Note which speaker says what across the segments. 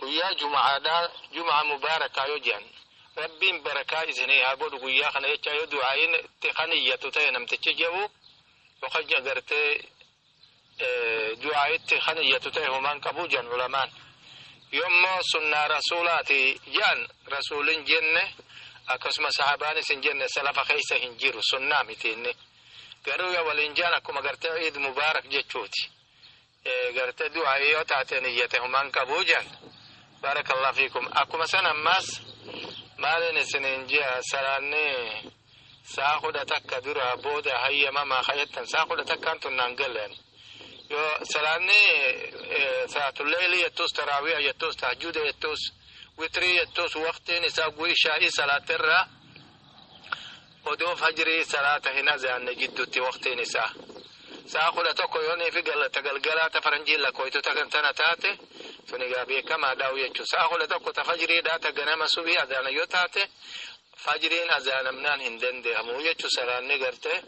Speaker 1: Guyyaa juma'aadhaa jum'aa mubaarakaa yoo je'an Rabbiin barakaa isinii haa godhu guyyaa kana jechaa yoo du'aa'iin itti kan iyyatu ta'e namtichi je'u yookaan agartee du'aa'itti kan iyyatu ta'e homaan qabu je'an ulamaan yoommoo sunnaa rasuulaati je'an rasuulin jenne akkasuma sahabaanis hin jenne salafa keessa hin jiru sunnaa miti inni garuu yoo waliin je'an akkuma agartee iid mubaarak jechuuti Garte du'aa'ii yoo taate niyyate humaan qabuu jan. Baarakallah fiikum. Akkuma san ammaas maaliin isiniin ji'a salaanni saa kudha takka dura booda hayyamamaa kajettan saa kudha takkaan tunnaan galeen. Yoo salaanni salaatulleeyli jettuus taraawiya jettuus tahajjuuda jettuus witrii jettuus waqtiin isaa gu'ishaa'ii salaatirraa Odoo fajrii salaata hin azaanne jiddutti waqtiin isaa sa'a kudha tokko yoonii fi ta galgalaa ta faranjiin lakkooytu ta kan tana taate sun egaa beekamaa dhaa'u jechuudha. Sa'a kudha tokko ta fajriidhaa ta ganama subii azaana yoo taate fajriin azaanamnaan hin danda'amu jechuudha salaanni gartee.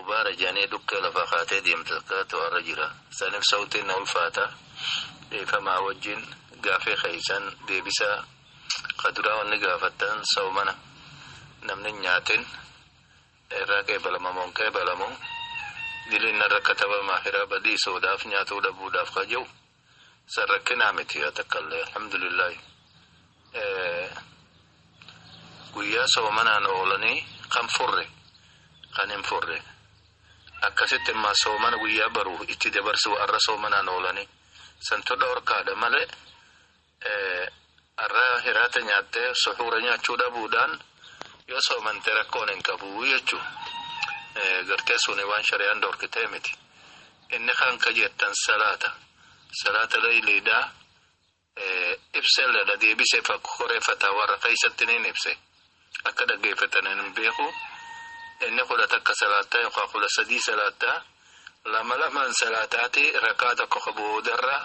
Speaker 2: Ubaara janee dhukkee lafaa kaatee deemta takkaatu arra jira sanif sawtiin na ulfaata dhiifamaa wajjin gaafii keessan deebisaa ka duraa wanni gaafattan sawmana namni hin nyaatin irraa qeebalama moo hin qeebalamu diliin narra katabama hiraa badii soodaaf nyaatuu dhabuudhaaf ka jiru San rakkinaa miti yaa takkallee alhamdulillahi. Guyyaa soomanaan oolanii kan furre kan hin furre akkasitti immaa soomana guyyaa baru itti dabarsu har'a soomanaan oolanii santu dhorkaadha malee Har'a hiraata nyaattee suhuura nyaachuu dhabuudhaan yoo soomante rakkoon hin qabu jechuun gartee suni waan shari'aan dhorkitee miti. Inni kan ka jettan salaata. Salaata leeyliidhaa ibselleedha deebisee fakkoree fataawaa irra keessatti ni ibse. Akka dhaggeeffatan hin beeku. Inni kudha takka salaattaa yookaan kudha sadii salaattaa lama lamaan salaataati rakkaa tokko ka boodarra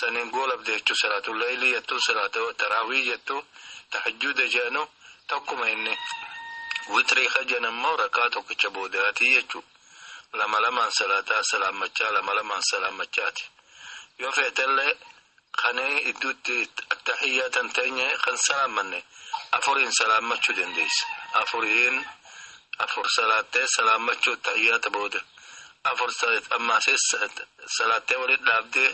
Speaker 2: saniin goolabde jechuun salaatuu laylii jettu salaatuu taraawii jettu tahajjuuda jedhanu tokkuma inni witrii ka jedhan immoo rakkaa tokkicha boodaati jechuudha. Lama lamaan salaataa salaammachaa lama lamaan salaammachaati. Yoo feetellee Kan idduutti attahiyyaatan teenye kan salaammanne afuriin salaammachuu dandeessa. Afuriin afur salaattee salaammachuu attahiyyaata booda. Afur ammaasee salaattee walitti dhaabdee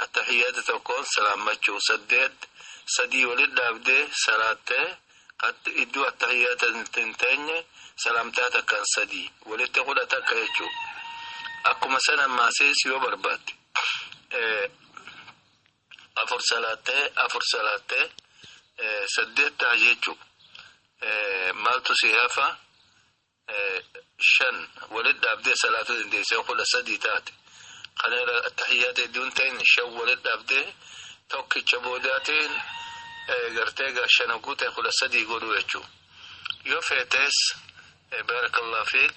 Speaker 2: attahiyyaata tokkoon salaammachuu saddeet sadii walitti dhaabdee salaattee iddoo attahiyyaata hin teenye salaamtaa takkaan sadii walitti kudha takka jechuudha. Akkuma sana ammaasee yoo barbaadde. afur salaattee afur salaattee saddeet ta'a jechuun maaltu si hafa shan walitti dhaabdee salaatuu dandeessee kudha sadii taate kana irra tahiyyaata hedduun ta'in shan walitti dhaabdee tokkicha boodaatiin gartee gaashana guute kudha sadii godhuu jechuun yoo feetes baarakallah fiik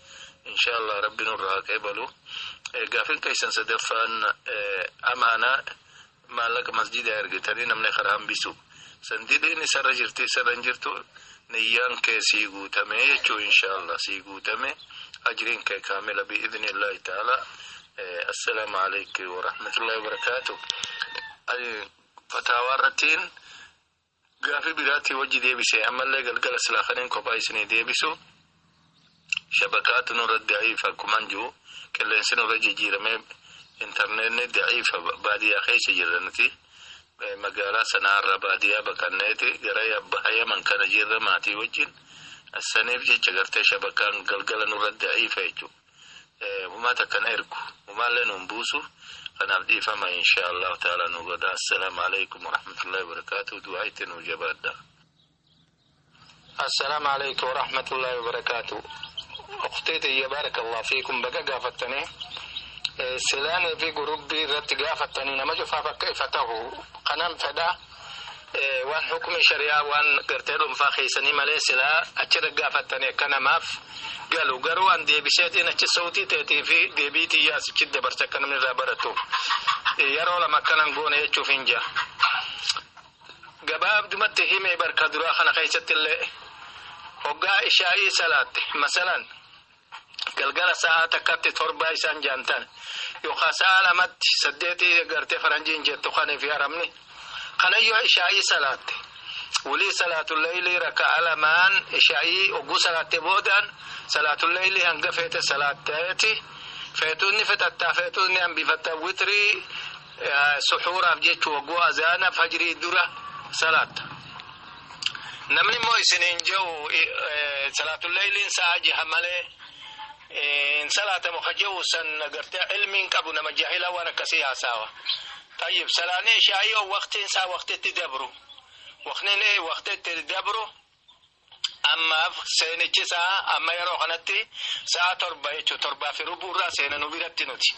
Speaker 2: Inshaallah rabbi nurraa haa qeebalu. Gaafin keessan sadaffaan amaanaa maallaqa masjiidaa ergitanii namni karaa hambisu. Sandileen isarra jirti isarra hin jirtu niyyaan kee sii guutame jechuu inshaallah sii guutame ajriin kee kaamila bi'idnillahi ta'ala. Assalaamu alaikum warahmatullahi wabarakaatu. Fataawaa irrattiin Gaafii biraatii wajji deebise ammallee galgala silaa kanin kophaa isinii deebisu shabakaatu nurra da'iifa akkuman jiru qilleensi nurra jijjiiramee intarneetni da'iifa baadiyyaa keessa jirra nuti magaalaa sanaarra baadiyyaa baqanneeti gara baha yaman kana jirra maatii wajjin saniif jecha gartee shabakaan galgala nurra da'iifa jechuudha. Humaa takka na ergu humaallee nuun buusu kanaaf dhiifama inshaa allahu ta'ala nu godha assalaamu alaikum warahmatullahi wabarakaatu du'aa itti nuu jabaadha
Speaker 1: assalaamu alaikum warahmatullahi wabarakaatu uktee tiyya baarakallah fiikum baga gaafattanii silaanii fi gurubbii irratti gaafattanii nama cufaaf akka ifa tahu kanan fedha waan hukmi shari'aa waan gartee dhuunfaa keessanii malee silaa achirra gaafattanii akka namaaf galu garuu an deebiseetiin achi sautii teetii fi deebii tiyyaa asichi dabarsa akka namni irraa baratu yeroo lama akkanan goone jechuuf hin jira. Gabaabdumatti himee barka duraa kana keessatti illee hoggaa ishaa'ii salaatte masalan Galgala sa'aa takkatti torbaa isaan jaantan yookaan sa'aa lamatti saddeetii eegartee faranjiin jettu kanii fi arabni kana yoo ishaa'ii salaatte wulii salaatulleeylii rakka'a lamaan ishaa'ii ogguu salaatte boodaan salaatulleeylii hanga feete salaatteeti feetuunni fixattaa feetuunni hambifattaa witrii suxuuraaf jechuu ogguu azaana fajrii dura salaatta. Namni immoo isiniin jehu salaatul leeyliin sa'a jaha malee hin salaatamu ka jehu san gartee ilmiin qabu nama jahila waan akkasii haasaawa. Tayyib salaanni ishaa'ii yoo waqtiin isaa waqtitti dabru waqtiin waqtitti dabru ammaaf seenichi isaa amma yeroo kanatti sa'a torba jechuun torbaa fi rubuu irraa seena nu biratti nuti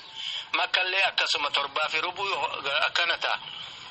Speaker 1: makkallee akkasuma torbaa fi rubuu akkana ta'a.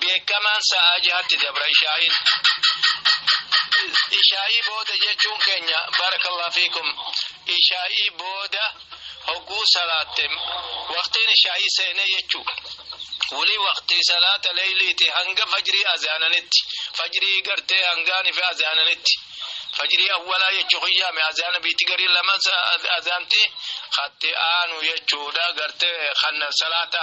Speaker 1: beekamaan sa'aa jahatti dabra ishaa'iin. Ishaa'ii booda jechuun keenya barakallah fiikum ishaa'ii booda hogguu salaatte waqtiin ishaa'ii seenee jechuu wuli waqtii salaata leeyliiti hanga fajrii azaananitti fajrii gartee hangaanii fi azaananitti fajrii awwalaa jechuu kiyyaame azaana biitti garii lama azaanti hatti aanu jechuudha gartee kan salaata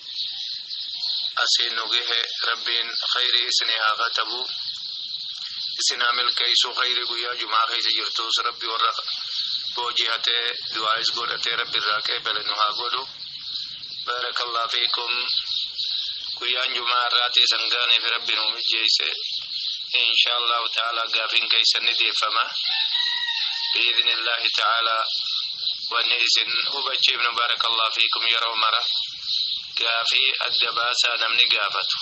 Speaker 2: asiin nu gehe rabbiin khayrii isinii haa katabu isin haa milkeeysu khayrii guyyaa jumaa keessa jirtuus rabbi warra boojii hatee du'aayis godhatee rabbi irraa qeebale nu haa godhu baarakallah fiikum guyyaan jumaa irraatii isan gaaneef rabbi nu mijeeyse insha allahu ta'ala gaafiin keeysan ni deeffama biidni illaahi ta'aalaa Wanni isin hubachiifnu baarakallah fiikum yeroo mara gaafii adda baasaa namni gaafatu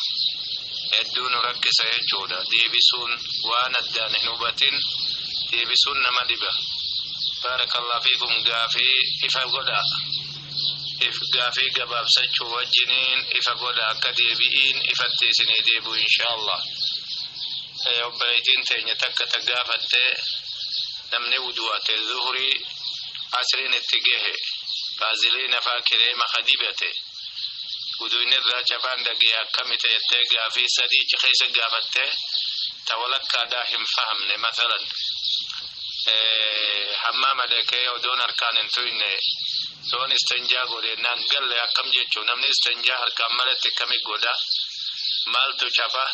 Speaker 2: hedduu nu rakkisa jechuudha deebisuun waan addaan hin hubatin deebisuun nama dhiba baarakallah fiikum gaafii ifa godhaa if gaafii gabaabsachuu wajjiniin ifa godha akka deebi'iin ifatti isinii deebi'u inshaallah obboleeytiin teenya takka ta gaafatte namni wudu'ate zuhurii asriin itti gehe baaziliina faa kireema ka dibate uduin irraa cabaan dhagee akkamita jettee gaafii sadii ichi keessa gaafattee ta walakkaadhaa hin fahamne masalan hammaama dhaqee odoon harkaan hin tuyne soon istanjaa godhennaan galle akkam jechuu namni istanjaa harkaan malatti akkami godha maaltu caba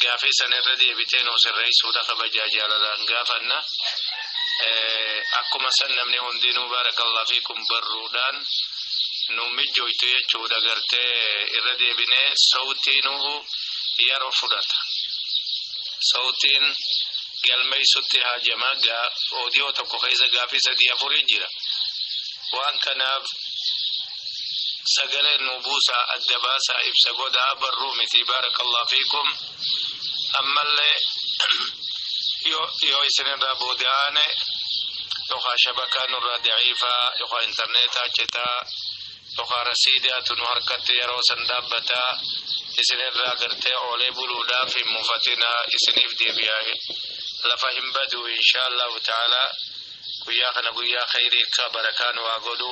Speaker 2: gaafii san irra deebitee nuu sirreessuudha kabajaa jaalalaan gaafanna Akkuma san namni hundinuu baarakallah fiikum barruudhaan nu mijjooytu jechuudha gartee irra deebinee sawtiinuhu yeroo fudhata. Sawtiin galmeessutti haajama oodiyoo tokko keessa gaafii sadii afurii jira. Waan kanaaf sagalee nu buusaa adda baasaa ibsa godhaa barruu miti baarakallah fiikum. ammallee yoo isinirraa boodaane yookaan shabakaa nurraa daciifaa yookaan intarneetaa citaa yookaan rasiidaatu nu harkatti yeroo san dhaabbataa isinirraa gartee oolee buluudhaaf hin mufatinaa isiniif deebi'aa lafa hin badu inshaallahu ta'ala guyyaa kana guyyaa khayrii akka barakaan waa godhu